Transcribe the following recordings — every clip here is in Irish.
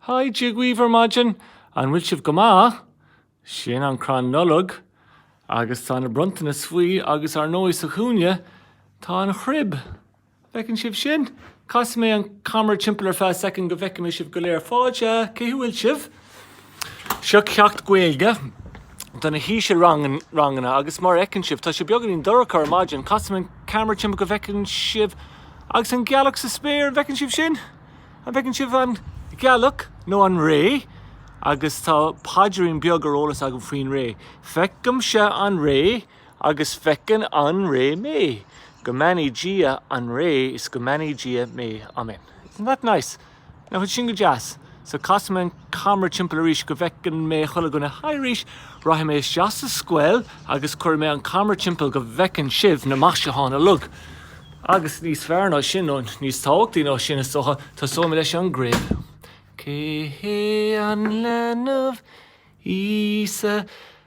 Hi, Dia dhaoibh ar maidin! An bhfuil sibh go maith? Sin an crann Nollag agus tá na bronntanais faoi agus ar ndóigh sa chúinne tá an chrib. An bhfeiceann sibh sin? Casfaidh mé an camera timpeall ar feadh soicind go bhfeicfidh mé sibh go léir. Fáilte! Cá bhfuil sibh? Seo ceacht Gaeilge do na hísealranganna agus mar a fheiceann sibh tá sé beagáinín dorcha ar maidin. Casfaidh mé an camera timpeall go bhfeiceann sibh agus an ghealach sa spéir, an bhfeiceann sibh sin? An bhfeiceann sibh an ghealach nó an ré? Agus tá paidrín beag ar eolas agam faoin ré. Feicimse an ré agus feiceann an ré mé. Go mbeannaí Dia an ré is go mbeannaí Dia mé. Amen. Isn't that nice? Nach bhfuil sin go deas? So casfaidh mé an. camra timpeall arís go bhfeicfidh mé chuile dhuine. Haigh arís! Rachaidh mé isteach sa scoil agus cuirfidh mé an camra timpeall go bhfeiceann sibh na maisiúcháin uilig. Agus níos fearr ná sin, nó níos tábhachtaí ná sin is dócha, tosóidh mé leis an gcrib. Cé hé? An leanbh Íosa?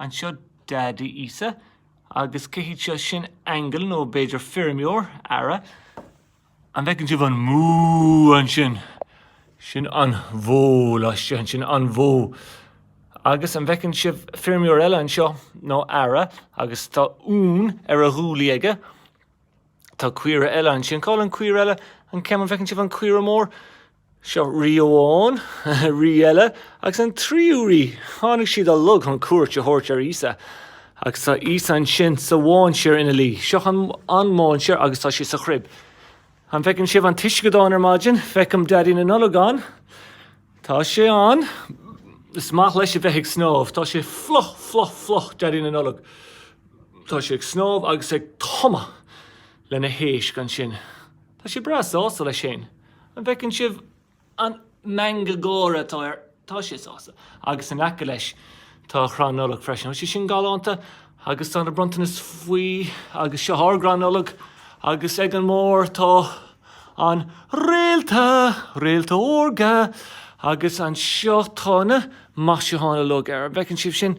Anseo Daidí Íosa? Agus cé hiad seo? Sin aingeal, nó b'fhéidir feirmeoir, aoire, an bhfeiceann sibh an mú ansin? Sin an bhó laistigh ansin, an bhó. Agus an bhfeiceann sibh feirmeoir eile anseo, nó aoire, agus tá uan ar a ghuaillí aige. Tá caora eile ansin. Cá bhfuil an chaora eile? An ceann, an bhfeiceann sibh an chaora mhór? Seo rí amháin, rí eile, agus an tríú rí. Tháinig siad uilig chun cuairt a thabhairt ar Íosa. Agus tá Íosa ansin sa mhainséar ina luí. Seo an mainséar agus tá sé sa chrib. An bhfeiceann sibh an t-uisceadán ar maidin? Feicim Daidí na Nollag ann. Tá sé ann. Is maith leis a bheith ag snámh. Tá sé fliuch, fliuch, fliuch, Daidí na Nollag. Tá sé ag snámh agus ag tumadh leis na héisc ansin. Tá sé breá sásta leis féin. An bhfeiceann sibh an meangadh gáire atá air? Tá sé sásta. Agus in aice leis tá crann Nollag freisin. Tá sé sin galánta agus tá na bronntanais faoi agus seo ár gcrann Nollag agus ag an mbarr tá an réalta, réalta órga agus anseo tá na maisiúcháin uilig air. An bhfeiceann sibh sin?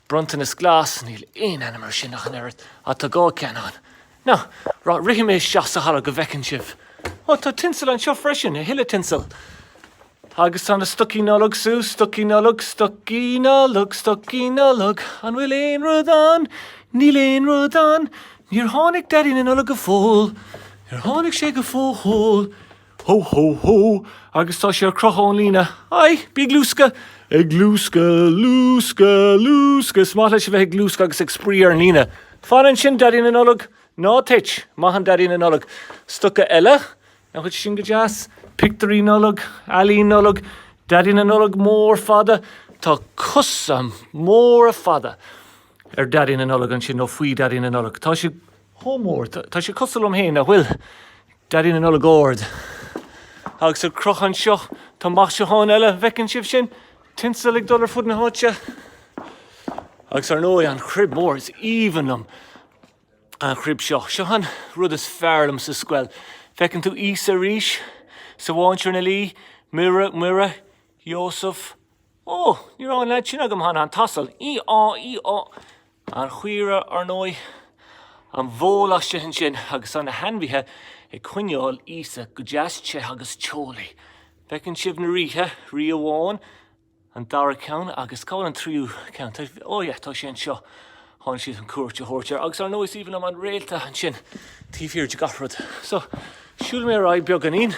Bronntanas glas, níl aon ainm ar sin ach an oiread, á, tá dhá cheann ann. Now, rithfidh mé isteach sa halla go bhfeiceann sibh. Ó, tá tinsil anseo freisin, a thuilleadh tinsil. Agus tá na stocaí Nollag suas, stocaí Nollag, stocaí Nollag, stocaí Nollag, an bhfuil aon rud ann? Níl aon rud ann. Níor tháinig Daidí na Nollag go fóill. Níor tháinig sé go fóill. Hó hó hó agus tá sé ar crochadh ón líne. Aigh! Bí ag luascadh! Ag luascadh, luascadh, luascadh! Is maith leis a bheith ag luascadh agus ag spraoi ar an líne. Fan ansin, Daidí na Nollag! Ná tit! Maith an Daidí na Nollag. Stoca eile. Nach bhfuil sin go deas. Pictiúirí Nollag. Ealaín Nollag. Daidí na Nollag mór fada. Tá cosa móra fada ar Daidí na Nollag ansin, nó faoi Dhaidí na Nollag. Tá sé chomh mór. Tá sé cosúil liom féin, nach bhfuil? Daidí na Nollag ard. Agus ar crochadh anseo, tá maisiúcháin eile, an bhfeiceann sibh sin? Tinsel ag dul ar fud na háite. Agus ar ndóigh, an chrib mhór, is aoibhinn liom an chrib seo. Seo an rud is fearr liom sa scoil. Feiceann tú Íosa arís, sa mháinséar ina luí, Muire, Iósaf. Ó! Ní raibh an leaid sin agam cheana, an t-asal. Í-á! Í-á! An chaora, ar ndóigh. An bhó laistigh ansin agus tá na hainmhithe ag coinneáil Íosa go deas te agus teolaí. Feiceann sibh na ríthe, rí amháin, an dara ceann agus cá bhfuil an tríú ceann? Ó yeah, tá sé anseo. Tháinig siad chun cuairt a thabhairt air. Agus ar ndóigh is aoibhinn liom an réalta ansin taobh thiar de gach rud. So, siúlfaidh mé ar aghaidh beagáinín.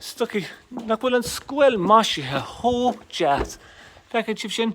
Stocaí, nach bhfuil an scoil maisithe chomh deas! Feiceann sibh sin?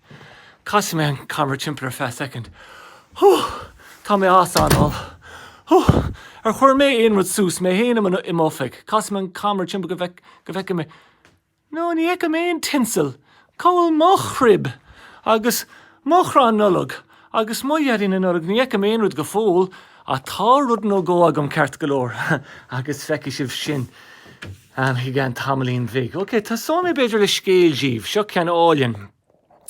Casfaidh mé an camera timpeall ar feadh soicind. Hoo! Tá mé as anáil. Hoo! Ar chuir mé aon rud suas mé féin i m'oifig? Casfaidh mé an camera timpeall go bhfeicfidh mé. No, ní fheicim aon tinsel. Cá bhfuil mo chrib? Agus mo chrann Nollag? Agus mo Dhaidí na Nollag, ní fheicim aon rud go fóill, ach tá rud nó dhó agam ceart go leor, agus feicfidh sibh sin i gceann tamaillín bhig. Ok, tosóidh mé b'fhéidir le scéal daoibh. Seo ceann álainn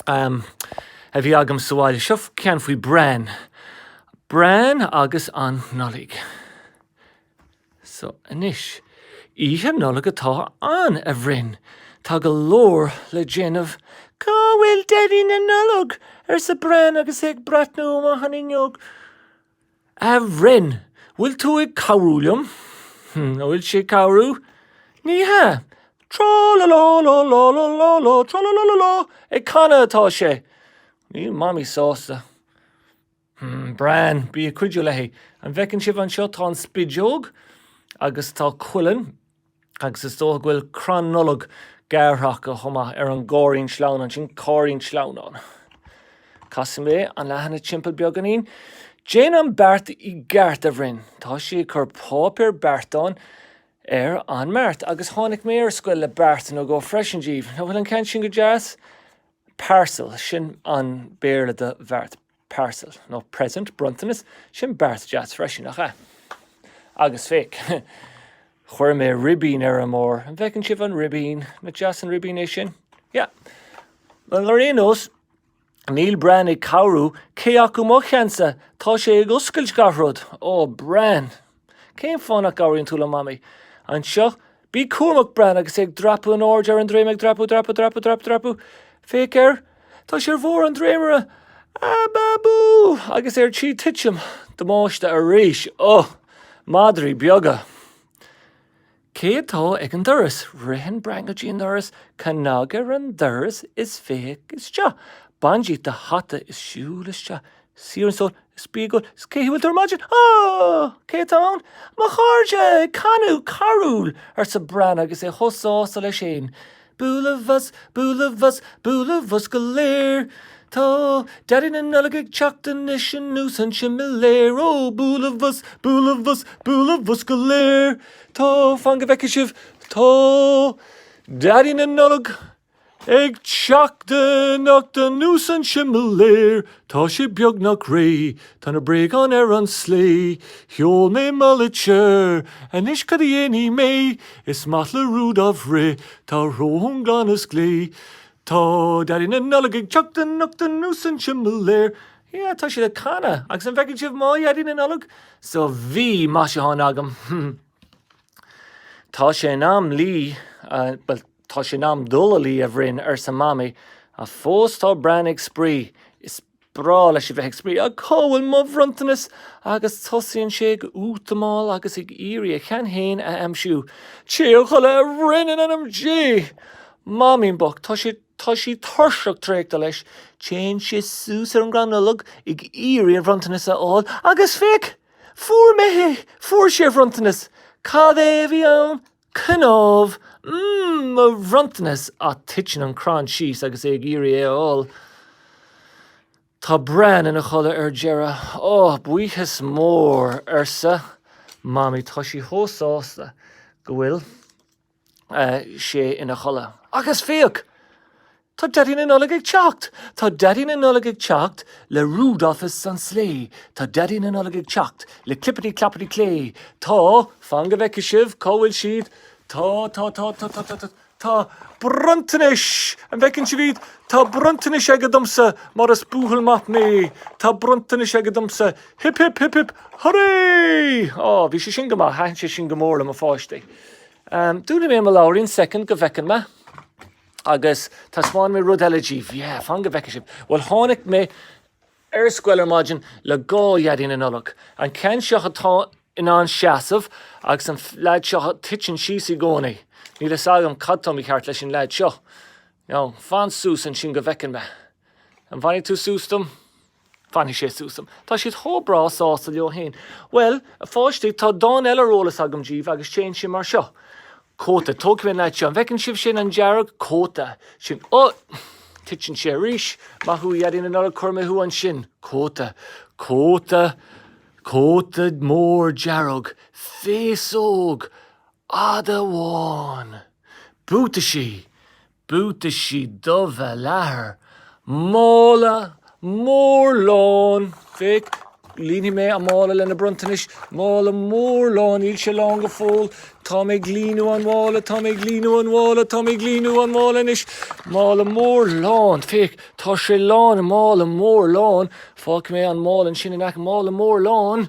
a bhí agam sa bhaile. Seo ceann faoi Bran. Bran agus an Nollaig. So anois. Oíche Nollag atá ann, a Bhrain. Tá go leor le déanamh. Cá bhfuil Daidí na Nollag? arsa Bran agus é ag breathnú amach an fhuinneog. A Bhrain, bhfuil tú ag cabhrú liom? An bhfuil sé ag cabhrú? Ní hea. Trá-la-lá-lá-lá-lá-lá-lá-trá-la-lá-lá-lá, ag canadh atá sé. Níl Mamaí sásta. Hmm, Bran, bí ag cuidiú léi. An bhfeiceann sibh anseo, tá an spideog agus tá cuileann agus is dócha go bhfuil crann Nollag gearrtha acu chomh maith ar an gcáirrín sleamhnáin sin, cáirrín sleamhnáin. Casfaidh mé an leathanach timpeall beagáinín. Déan an beart i gceart, a Bhrain. Tá sí ag cur páipéar beartáin ar an mbeart agus tháinig mé ar scoil le beart nó dhó freisin daoibh. An bhfuil an ceann sin go deas? Parcel, sin an Béarla do bheart. parcel, nó present, bronntanas, sin beart deas freisin, nach ea? Agus féach, chuir mé ribín ar an mbord, an bhfeiceann sibh an ribín? Nach deas an ribín é sin? Yeah. Bhuel, ar aon nós, níl Bran ag cabhrú, cé acu mo cheannsa? Tá sé ag oscailt gach rud! Ó, Bran! Cén fáth nach gcabhraíonn tú liom, Mamaí? Anseo. Bí cúramach, Bran, agus é ag dreapadh in airde ar an dréim, ag dreapadh, dreapadh, dreapadh, dreapadh, dreapadh. Féach air. Tá sé ar bharr an dréimire. Ababú! Agus é ar tí titim. Damáiste arís. Ugh! Madraí beaga. Cé atá ag an doras? Ritheann Bran go dtí an doras, cnag ar an doras is féach isteach. Bain díot do hata is siúl isteach. Suigh ar an stól, is bí ag ól, is cén chaoi a bhfuil tú ar maidin? Ó! Cé atá ann? Mo chairde! Ag canadh carúl! arsa Bran agus é chomh sásta leis féin. Bualaimis, bualaimis, bualaimis go léir, Tá Daidí na Nollag ag teacht anois anuas an similéar. Ó! Bualaimis, bualaimis, bualaimis go léir, Tá, fan go bhfeicfidh sibh, tá Daidí na Nollag ag teacht anocht anuas an similéar. Tá sé beagnach réidh, tá na bréagáin ar an slé, sheol mé mo litir, anois cad a dhéanfaidh mé? Is maith le Rudolf rith, tá a shrón glan is glé. Tá Daidí na Nollag ag teacht anocht anuas an similéar. Yeah, tá siad ag canadh, agus an bhfeiceann sibh mo Dhaidí na Nollag? So bhí maisiúcháin agam. Tá sé in am luí, bhuel, Tá sé in am dul a luí, a Bhrain, arsa Mamaí, ach fós tá Bran ag spraoi. Is breá leis a bheith ag spraoi. Ach cá bhfuil mo bhronntanas? agus tosaíonn sé ag útamáil agus ag iarraidh a cheann féin a aimsiú. Téigh a chodladh, a Bhrain in ainm Dé! Mamaín bocht, tá sé, tá sí tuirseach traochta leis. Téann sé suas ar an gcrann Nollag ag iarraidh a bhronntanas a fháil. Agus féach! Fuair mé é! Fuair sé a bhronntanas! Cad é a bhí ann? Cnámh! Mmm! Mo bhronntanas! Ach titeann an crann síos agus é ag iarraidh é a fháil. Tá Bran ina chodladh ar deireadh. Oh, buíochas mór, arsa Mamaí. Tá sí chomh sásta go bhfuil sé ina chodladh. Agus féach! Tá Daidí na Nollag ag teacht! Tá Daidí na Nollag ag teacht le Rudolph is an slé Tá Daidí na Nollag ag teacht le clipidí clopidí clé Tá, fan go bhfeice sibh cá bhfuil siad, tá, tá, tá, tá, tá, tá, tá, tá bronntanais! An bhfeiceann sibh iad? Tá bronntanais aige domsa mar is buachaill maith mé Tá bronntanais aige domsa, hip hip hip hip hurray! Á, bhí sé sin go maith, thaitin sé sin go mór le mo pháistí. Ahm, dúnfaidh mé mo leabhairín, soicind go bhfeiceann mé. Agus taispeánfaidh mé rud eile díbh. Yeah, fan go bhfeice sibh. Bhuel, tháinig mé ar scoil ar maidin le dhá Dhaidí na Nollag. An ceann seo atá in ann seasamh agus an leaid seo a thiteann síos i gcónaí. Níl fhios agam cad tá mícheart leis an leaid seo. Now, fan suas ansin go bhfeiceann mé. An bhfanfaidh tú suas dom? Fanfaidh sé suas dom. Tá siad chomh breá sásta leo féin. Bhuel, a pháistí, tá dán eile ar eolas agam díbh agus téann sé mar seo. Cóta. Tógfaidh mé an leaid seo. An bhfeiceann sibh sin, an dearg cóta sin? Ó! Ó! Titeann sé arís. Maith thú, a Dhaidí na Nollag, cuirfidh mé thú ansin. Cóta. Cóta. Cóta mór dearg. Féasóg fhada bhán. Buataisí. buataisí dubha leathair, mála mór lán, féach, líonfaidh mé an mála lena bronntanais, mála mór lán, níl sé lán go fóill, tá mé ag líonadh an mhála, tá mé ag líonadh an mhála, tá mé ag líonadh an mhála anois, mála mór lán, féach, tá sé lán, mála mór lán, fágfaidh mé an mála ansin in aice, mála mór lán,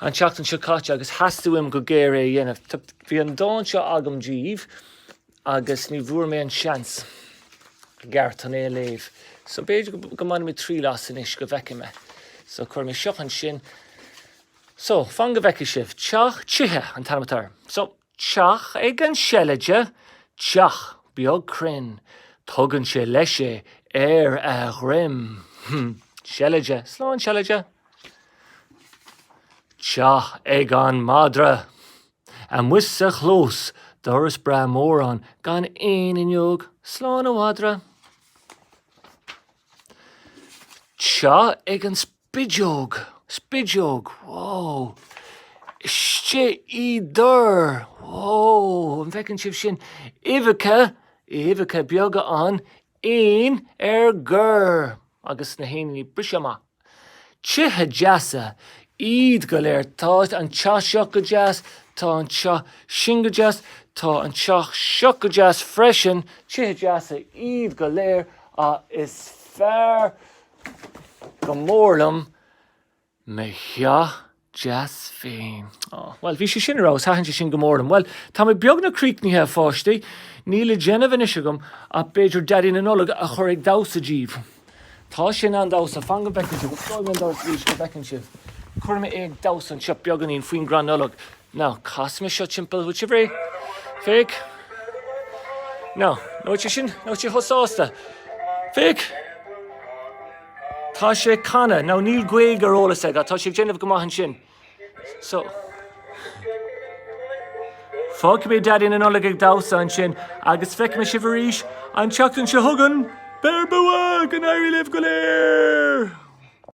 an tseachtain seo caite agus theastaigh uaim go géar é a dhéanamh. Bhí an dán seo agam díbh agus ní bhfuair mé an seans i gceart chun é a léamh. So b'fhéidir go mbainfimid triail as anois go bhfeicfidh mé. So cuirfidh mé seo ansin. So, fan go bhfeicfidh sibh. Teach Tithe an t-ainm atá air. So. teach ag an seilide, teach beag cruinn, tugann sé leis é ar a dhroim. seilide, slán seilide! teach ag an madra, amuigh sa chlós, doras breá mór ann, gan aon fhuinneog, slán a mhadra! teach ag an. Spideog! Spideog! Whoa! Istigh i dtor! Whoa! An bhfeiceann sibh sin? Uibheacha, uibheacha beaga ann, éan ar gor! Agus na héiníní ag briseadh amach. Tithe deasa iad go léir. Tá an teach seo go deas, tá an teach sin go deas, tá an teach seo go deas freisin. Tithe deasa iad go léir, ach is fearr go mór liom mo theach deas féin. Ó, bhuel, bhí sé sin ar fheabhas, thaitin sé sin go mór liom. Bhuel, tá mé beagnach críochnaithe, a pháistí. Níl le déanamh anois agam ach b'fhéidir Daidí na Nollag a chur ag damhsa díbh. Tá sé in ann damhsa. Fan go bhfeicfidh sibh. Osclóidh mé an doras arís go bhfeiceann sibh. Cuirfidh mé é ag damhsa anseo beagáinín faoin gcrann Nollag. Now, casfaidh mé seo timpeall. An bhfuil sibh réidh? Féach. Now, nach bhfuil sé sin, nach bhfuil sé chomh sásta. Féach. Tá sé ag canadh. Now níl Gaeilge ar eolas aige ach tá sé ag déanamh go maith ansin. So. Fágfaidh mé Daidí na Nollag ag damhsa ansin agus feicfidh mé sibh arís an tseachtain seo chugainn. Beir bua! Go n-éirí libh go léir!